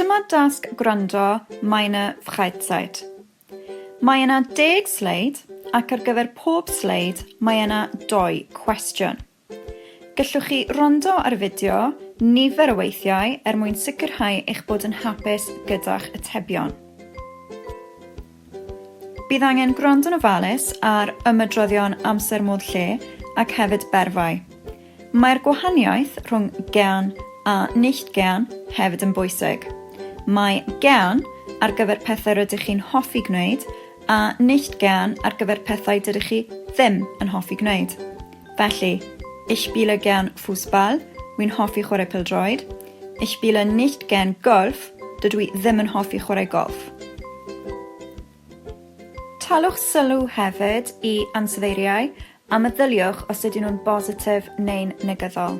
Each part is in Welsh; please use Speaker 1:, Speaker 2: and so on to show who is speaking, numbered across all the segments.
Speaker 1: Dyma dasg gwrando Meine Freizeit. Mae yna deg sleid ac ar gyfer pob sleid mae yna dou cwestiwn. Gellwch chi rondo ar y fideo nifer o weithiau er mwyn sicrhau eich bod yn hapus gyda'ch atebion. Bydd angen gwrando'n ofalus ar ymedroddion amser modd lle ac hefyd berfau. Mae'r gwahaniaeth rhwng gern a nicht gern hefyd yn bwysig. Mae gern ar gyfer pethau rydych chi'n hoffi gwneud a nicht gern ar gyfer pethau dydych chi ddim yn hoffi gwneud. Felly, ich spiele gern Fußball, wi'n hoffi chwarae pêl-droed, ich spiele nicht gern Golf, dydw i ddim yn hoffi chwarae golff. Talwch sylw hefyd i ansoddeiriau a meddyliwch os ydyn nhw'n bositif neu'n negyddol.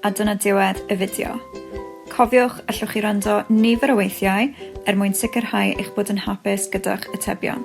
Speaker 1: A dyna diwedd y fideo. Cofiwch, allwch chi wrando nifer o weithiau er mwyn sicrhau eich bod yn hapus gyda'ch atebion.